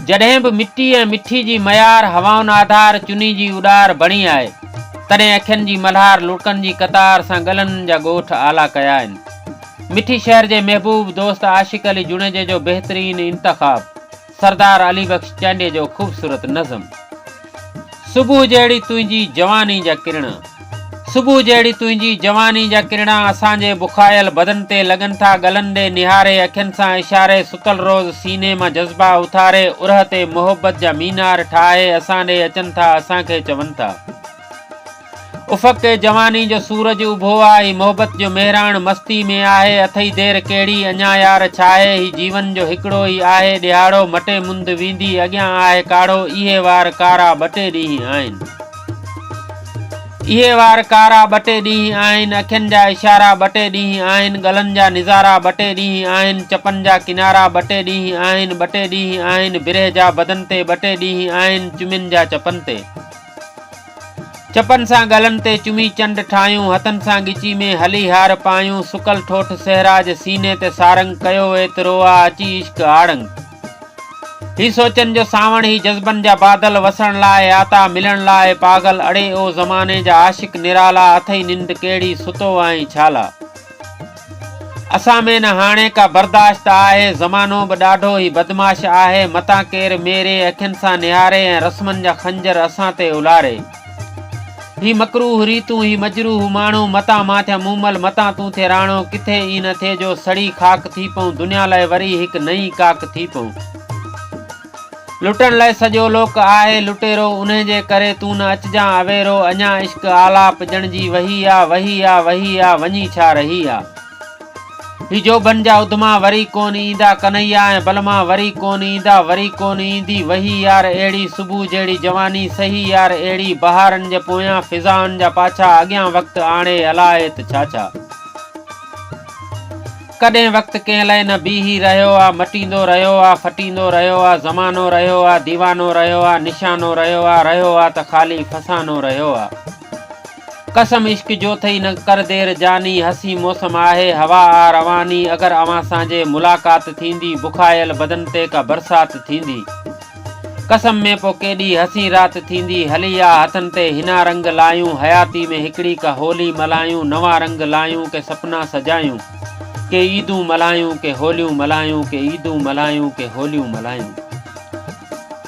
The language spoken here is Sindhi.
جڏهن به مٽي ۽ مٺي جي ميار هوائن آڌار چني جي اڏار بڻي آهي، تڏهن اکين جي ملهار لڙڪن جي قطار سان ڳلن جا ڳوٺ آلا ڪيا آهن. مٺي شهر جي محبوب دوست عاشق علي جوڻيجي جو بهترين انتخاب، سردار علي بخش چانڊيي جو خوبصورت نظم. صبح جهڙي تنهنجي جواني جا ڪرڻا صبح جهڙي تنهنجي جواني جا ڪرڻا اسان جي بکايل بدن تي لڳن ٿا ڳلن ڏي نهاري اکين سان اشاري ستل روز سيني مان جذبا اٿاري اورهه تي محبت جا مينار ٺاهي اسان ڏي اچن ٿا اسان کي چون ٿا افق تي جواني جو سورج اڀو آ هي محبت جو مهراڻ مستي ۾ آهي اٿئي دير ڪهڙي اڃا يار ڇاهي هي جيون جو هڪڙو ئي آهي ڏيهاڙو مٽي مند ويندي اڳيان آهي ڪاڙهو اهي وار ڪارا ٻه ٽي ڏينهن آهن اهي وار ڪارا ٻه ٽي ڏينهن آهن اکين جا اشارا ٻه ٽي ڏينهن آهن ڳلن جا نظارا ٻه ٽي ڏينهن آهن چپن جا ڪنارا ٻه ٽي ڏينهن آهن ٻه ٽي ڏينهن آهن برهه جا بدن تي ٻه ٽي ڏينهن آهن چمين جا چپن تي چپن سان ڳلن تي چمي چنڊ ٺاهيون، هٿن سان ڳچي ۾ هلي هار پايون، سڪل ٺوٺ صحرا جي سيني تي سارنگ، ڪيو ايترو آ اچي عشق آڙنگ. هي سوچن جو سانوڻ، هي جذبن جا بادل، وسڻ لاء آتا، ملڻ لاء پاڳل، اڙي او زماني جا عاشق نرالا، اٿئي ننڊ ڪهڙي، ستو آهين ڇالا. اسان ۾ نه هاڻي ڪا برداشت آهي، زمانو به ڏاڍو ئي بدمعاش آهي، متان ڪير ميري اکين سان نهاري ۽ رسمن جا خنجر اسان تي الاري. هي مڪروه ريتون، هي مجروح ماڻهو، متان مان ٿيان مومل، متان تون ٿي راڻو، ڪٿي ائين نه ٿئي جو سڙي خاڪ ٿي پئون، دنيا لاء وري هڪ نئين ڪاڪ ٿي پئون. لٽڻ لئه سڄو لوڪ آهي لٽيرو انهي جي ڪري تون نه اچجان اويرو اڃا عشق آلاپ ڄڻ جي وهي آ وهي آ وهي آ وڃي ڇا رهي آ هي جوڀن جا اڌما وري ڪون ايندا ڪنهيا ۽ بلما وري ڪون ايندا وري ڪون ايندي وهي يار اهڙي صبح جهڙي جواني سهي يار اهڙي بهارن جي پويان فضائن جا پاڇا اڳيان وقت آڻي الاهي ته ڇا ڇا ڪڏهن وقت ڪنهن لئه نه بيهي رهيو آ، مٽيندو رهيو آ، ڦٽيندو رهيو آ، زمانو رهيو آ، ديوانو رهيو آ، نشانو رهيو آ، رهيو آ ته خالي فسانو رهيو آ. قسم عشق جو ٿئي نه ڪر دير جاني، حسين موسم آهي، هوا آ رواني، اگر اوهان سان جي ملاقات ٿيندي، بکايل بدن تي ڪا برسات ٿيندي. قسم ۾ پو ڪيڏي حسين رات ٿيندي هلي آ هٿن تي هنا رنگ لايون حياتي ۾ هڪڙي ڪه هولي ملايون نوان رنگ لايون ڪه سپنا سجايون ڪه عيدون ملايون ڪه هوليون ملايون ڪه عيدون ملايون ڪه هوليون ملايون.